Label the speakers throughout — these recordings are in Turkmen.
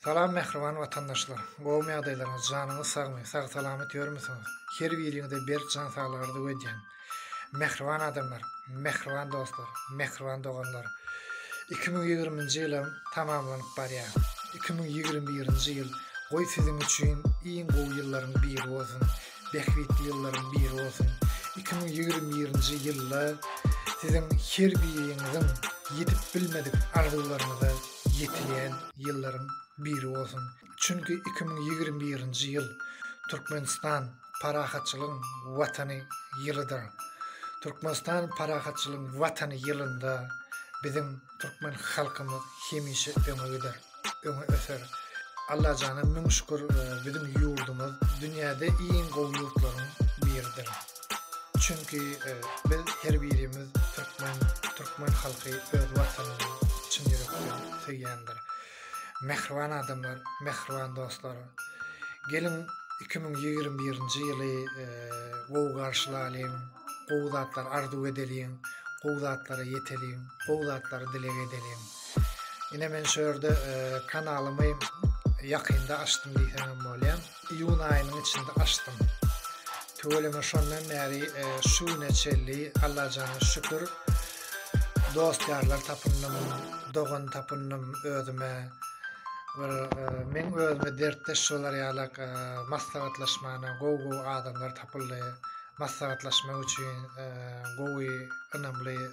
Speaker 1: Salam mähriban watandaşlar! Gowmy ýagdaýlaryňyz, janyňyz sagmy, sag-salamat ýörmüsiňiz? Her biriňize berk jan saglyk arzuw edýän! Mähriban adamlar, mähriban dostlar, mähriban doganlar! Iki müň ýigriminji ýylam tamamlanyp barýar. Iki müň ýigrimi birinji ýyl goý siziň üçin iň gowy ýyllaryň biri bolsun, bähbitli ýyllaryň biri bolsun! Iki müň ýigrimi birinji ýylda siziň her biriňiziň ýetip bilmedik arzuwlaryňyza ýetilen ýyllaryň biri bolsun. Çünki iki müň ýigrimi birinji ýyl Türkmenistan parahatçylygyň Watany ýylydyr. Türkmenistan parahatçylygyň Watany ýylynda biziň türkmen halkymyz hemişe öňe gider, öňe öser. Allajana müň şükür biziň ýurdumyz dünýäde iň gowy ýurtlaryň biridir. Çünki biz her birimiz türkmen, türkmen halky öz watanyny çyn ýürekden söýýändir. Mähriban adamlar, mähriban dostlar! Geliň iki müň ýigrimi birinji ýyly gowy garşylalyň, gowy zatlar arzuw edeliň, gowy zatlara ýeteliň, gowy zatlary dileg edeliň. Ine men şu ýerde kanalymy ýakynda açdym diýseňem bolýar. Iýun aýynyň içinde açdym. Tüweleme şondan bäri şu güne çenli Allajana şükür dost-ýarlar tapyndym, dogan tapyndym özüme. Bir meň özüme dertdeş bolar ýalak maslahatlaşmana gowy-gowy adamlar tapyldy. Maslahatlaşmak üçin gowy, ynamly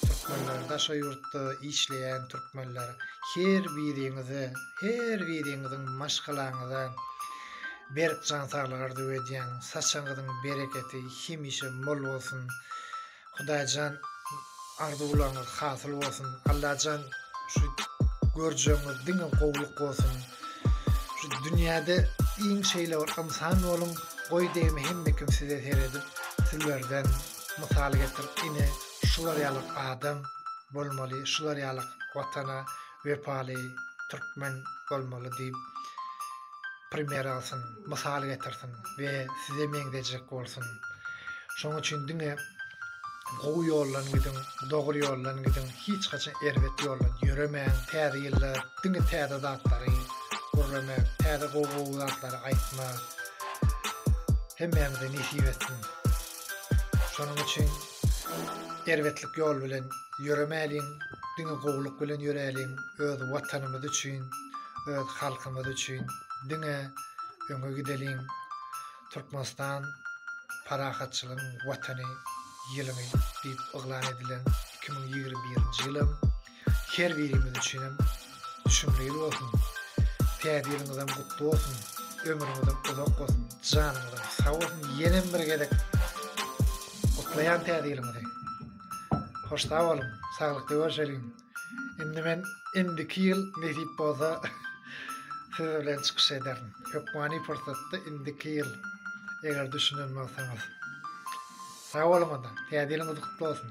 Speaker 1: Türkmenler daşa ýurtda işleýän türkmenler her biriňize her biriňiziň maşgalaňyza berk jan saglyk arzuw edýän saçaňyzyň bereketi hemişe mol bolsun Hudaýjan arzuwlaryňyz hasyl bolsun Allajan şu görjegiňiz diňe gowluk bolsun şu dünýäde iň şeýle bir ynsan boluň goý degme hemmekim size seredip sizlerden Mysal getirip ine şular ýalyk adam bolmaly şular ýalyk watana wepaly türkmen bolmaly diýip primer alsyn mysal getirsin we size meňzejek bolsun şoň üçin diňe gowy ýoldan gidiň dogry ýoldan gidiň hiç haçan erbet ýoldan ýöremäň täze ýylda diňe täze zatlary gurrama täze gowy gowy zatlary aýtma hemmämize nesip etsin Şonuň üçin erbetlik ýol bilen ýöremäliň, diňe gowulyk bilen ýöräliň, öz Watanymyz üçin, öz halkymyz üçin diňe öňe gideliň. Türkmenistan parahatçylygyň watany ýylyny diýip yglan edilen iki müň ýigrimi birinji ýylam Her birimiz üçinem düşümli ýyl bolsun. Täze ýylyňyzam gutly bolsun. Ömrüňizem uzak bolsun. Janyňyzam sag bolsun. Ýenem bir gezek gutlaýan täze ýylyňyzy. Hoş sag boluň. Saglykly görşeliň. Indi men indiki ýyl nesip bolsa siz bilen çykyş ederin. Hökmany pursatda indiki ýyl eger düşünen bolsaňyz. Sag boluň onda. Täze ýylyňyz gutly bolsun.